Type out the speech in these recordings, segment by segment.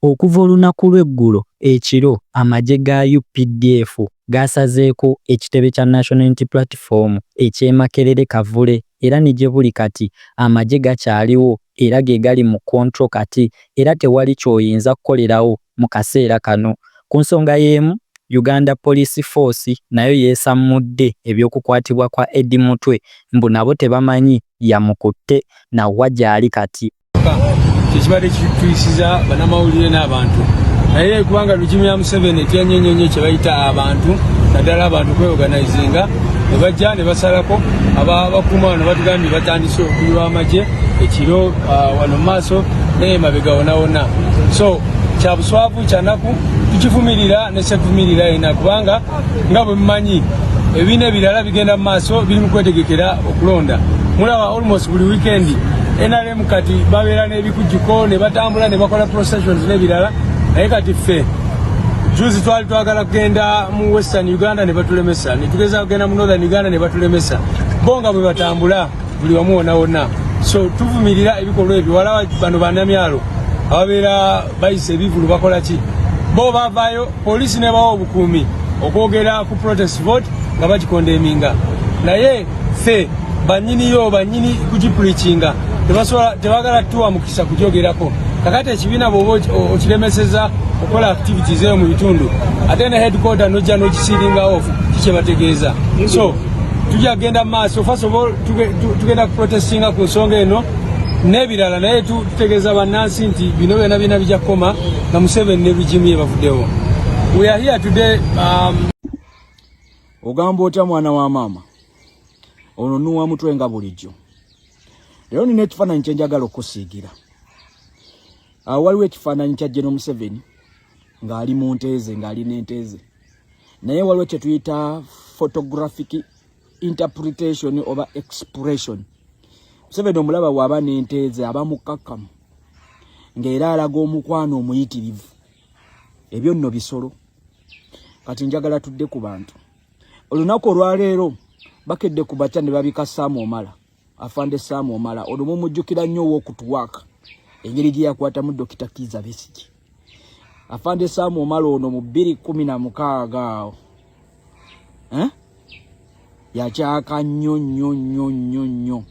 Okuva olunaku lw'eggulo ekiro amagye ga updf gaasazeeko ekitebe kya National Unity Platform eky'e Makerere Kavule era ne gye buli kati amagye gakyaliwo era ge gali mu kkontro kati era tewali ky'oyinza kukolerawo mu kaseera kano. Ku nsonga y'emu, Uganda Police Force nayo yeesammudde eby'okukwatibwa kwa Eddie Mutwe mbu nabo tebamanyi yamukutte na wa gy'ali kati. kyekibadde kituyisiza banamawulire n'abantu naye kubanga regimu ya museveni etyanyo nyo nyo kyebayita abantu naddala abantu kweoganizinga nebajja nebasalako abakuuma wano batugambye batandise okuyiwa amagye ekiro ah, wano mumaaso naye mabega wonawona so kyabuswavu kyanaku tukivumirira nesevumirira yena kubanga nga bwe mumanyi ebibiina ebirala bigenda mu maaso biri mu kwetegekera okulonda mulaba almost buli wiikendi nrm kati babeera n'ebikujjuko ne batambula ne bakola processions n'ebirala naye kati ffe juzi twali twagala kugenda mu western uganda ne batulemesa ne tugeza kugenda mu northern uganda ne batulemesa bo nga bwe batambula buli wamu wona wonna so tuvumirira ebikolwa ebyo wala bano banamyalo ababeera bayisa ebivulu bakola ki bo bavayo Poliisi nebawa obukuumi okwogera ku protest vote nga bagikondeminga naye ffe banyiniyo banyini kugipulikinga tebagala tuwa mukisa kugyogerako kakati ekibiina bwoba okiremeseza okukola activities eyo mu bitundu ate ne headquarter nojja nokisiringa off kikyebategeeza so tujja kugenda mu maaso first of all tugenda kuprotestinga ku nsonga eno n'ebirala naye Tutegeeza bannansi nti bino byona byona bijja kukoma nga Museveni ne rigimu ye bavuddewo. We are here today um... Ogamba otya mwana wa maama ono nuwa mutwe nga bulijjo leero nina ekifaananyi kyenjagala okusiigira awo ah, waliwo ekifaananyi kya jeno museveni ng'ali mu nteeze ng'ali n'enteeze naye waliwo kyetuyita photographic interpretation oba expression museveni omulaba waaba n'enteeze aba mukkakkamu ng'era alaga omukwano omuyitirivu ebyo nno bisolo kati njagala tudde ku bantu olunaku olwaleero bakedde ku batya ne babika saamu omala afande Sam Omala ono mumujjukira nnyo ow'okutuwaaka engeri gye yakwatamu Dokita Kiiza Besigye afande Sam Omala ono mu bbiri kumi na mukaaga awo eh? yakyaka nnyo nnyo nnyo nnyo nnyo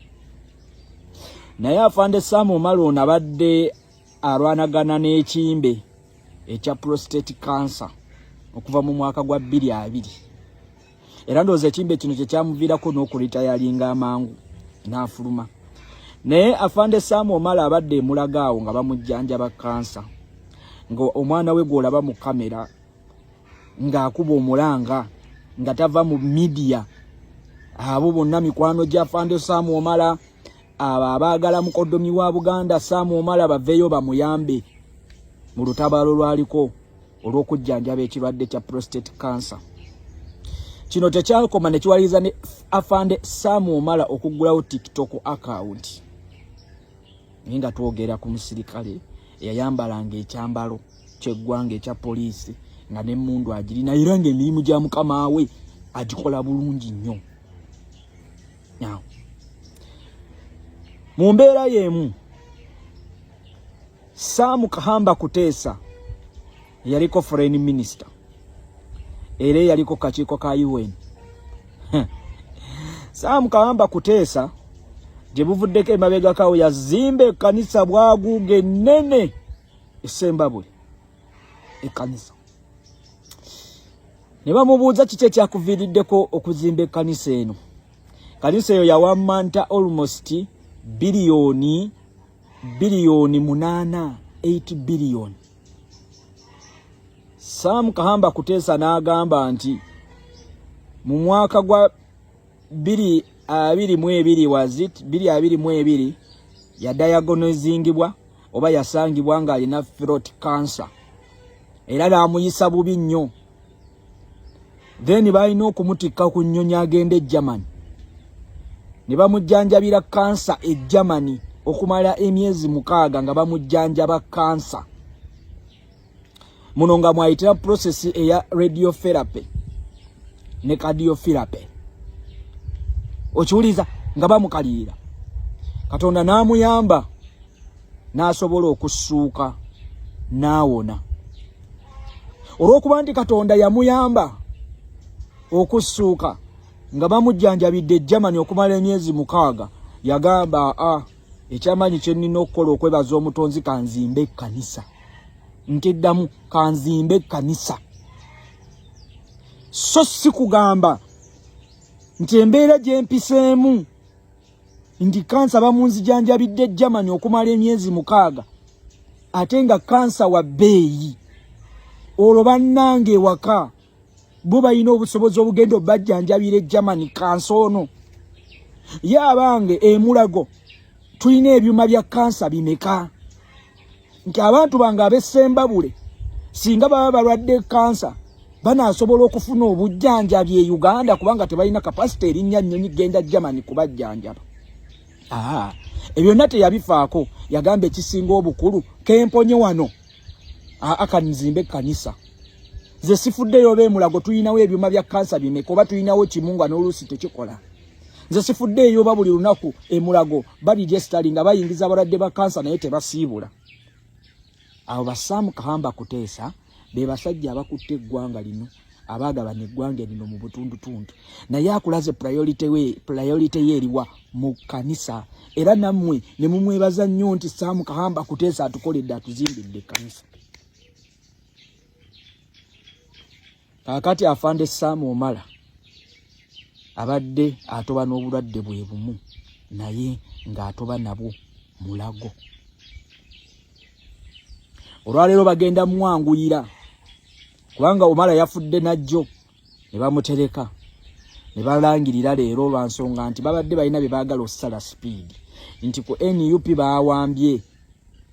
naye afande Sam Omala ono abadde alwanagana n'ekimbe ekya prostate cancer okuva mu mwaka gwa bbiri abiri era ndowooza ekimbe kino kyekyamuviirako n'okulita yalinga amangu n'afuluma naye afande saamu omala abadde emulaga awo nga bamujjanjaba kansa nga omwana we gwolaba mu kamera ng'akuba omulanga nga tava mu midiya abo bonna mikwano gya afande saamu omala abo abaagala mukodomi wa buganda saamu omala baveeyo bamuyambe mu lutabaalo lwaliko olw'okujjanjaba ekirwadde kya prostate cancer kino tekyakoma ne kiwaliriza ne afande sam omala okuggulawo tiktok account naye nga twogera ku musirikale eyayambalanga ekyambalo kyeggwanga ekya poliisi nga nemundu agirina era nga emirimu gya mukama we agikola bulungi nnyo mu mbeera y'emu Sam Kahamba Kuteesa yaliko foreign minister era yaliko kakiiko ka UN. Sam Kahamba Kuteesa gye buvuddeko emabegakawo yazimba ekkanisa bwaguuga ennene esembabule ekkanisa ne bamubuuza kiki ekyakuviiriddeko okuzimba ekkanisa eno kanisa eyo yawamanta almost biliyoni biliyoni munaana 8 biliyoni Sam Kahamba Kutesa n'agamba nti mu mwaka gwa biri abiri mu ebiri wazit biri abiri mu ebiri yadayagonezingibwa oba yasangibwa ng'alina throat cancer era n'amuyisa bubi nnyo then balina okumutikka ku nnyonyi agenda e germany ne bamujjanjabira kansa e germany okumala emyezi mukaaga nga bamujjanjaba kansa muno nga mwayitira prosesi eya radiotherapy ne cardiotherapy okiwuliza nga bamukalirira katonda n'amuyamba n'asobola okussuuka n'awona olw'okuba nti katonda yamuyamba okussuuka nga bamujjanjabidde germany okumala emyezi mukaaga yagamba a ah, ekyamaanyi kye nnina okukola okwebaza omutonzi kanzimba ekkanisa ntiddamu kanzimba ekkanisa so si kugamba nti embeera gyempiseemu nti kansa bamunzijanjabidde germany okumala emyezi mukaaga ate nga kansa wa bbeeyi olwo bannanga ewaka bo balina obusobozi obugenda obajjanjabira egermany kansa ono ye abange emulago tulina ebyuma bya kansa bimeka nti abantu bange abesembabule singa baba balwadde kansa banasobola okufuna obujjanjabi e uganda kubanga tebalina kapasite erinnya nnyonyi genda germany kubajjanjaba aa ebyonna teyabifaako yagamba ekisinga obukulu kemponye wano akanizimba ekkanisa ze sifuddeyo oba emulago tulinawo ebyuma bya kansa bimeka oba tulinawo kimu nga n'oluusi tekikola nze sifudde eyoba buli lunaku emulago badigestali nga bayingiza abalwadde ba kansa naye tebasiibula abo basaamu kahamba kuteesa be basajja abakutte eggwanga lino abaagabana eggwanga lino mu butundutundu naye akulaze priority ye eriwa mu kanisa era nammwe ne mumwebaza nnyo nti saamu kahamba kuteesa atukoledde atuzimbidde ekkanisa kakati afande saamu omala abadde atoba n'obulwadde bwe bumu naye ng'atoba nabwo mulago olwaleero bagenda mwanguyira kubanga omala yafudde najjo ne bamutereka ne balangirira leero lwa nsonga nti babadde balina bye baagala okusala sipiidi nti ku nup baawambye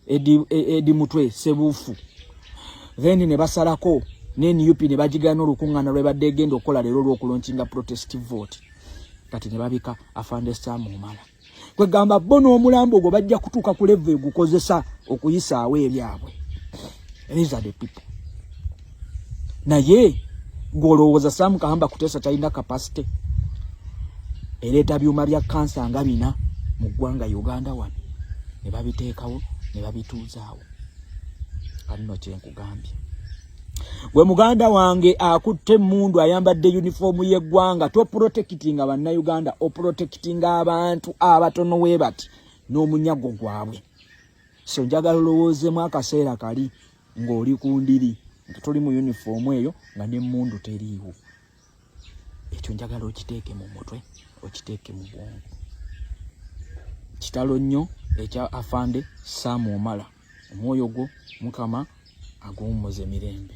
edi, e, edi mutwe sebufu then ne basalako ne nup ne bagigana olukungana lwebadde egenda okukola leero olwokulonkinga protest vote kati ne babika afande sam omala kwegamba bo n'omulambo ogwo bajja kutuuka ku levo egukozesa okuyisaawo ebyabwe these are the people naye gwolowooza sam kahamba kutesa talina capacity ereeta byuma bya kansa nga bina mu ggwanga uganda wano ne babiteekawo ne babituuzaawo kanno kyenkugambye gwe muganda wange akutte emundu ayambadde yunifoomu y'eggwanga toprotekitinga bannayuganda oprotekitinga abantu abatono webati n'omunyago gwabwe so njagala olowoozemu akaseera kali ng'oli ku ndiri nga toli mu yunifoomu eyo nga n'emmundu teriiwo ekyo njagala okiteeke mu mutwe okiteeke mu bwongo kitalo nnyo ekya afande saamu omala omwoyo gwo mukama aguwummuze mirembe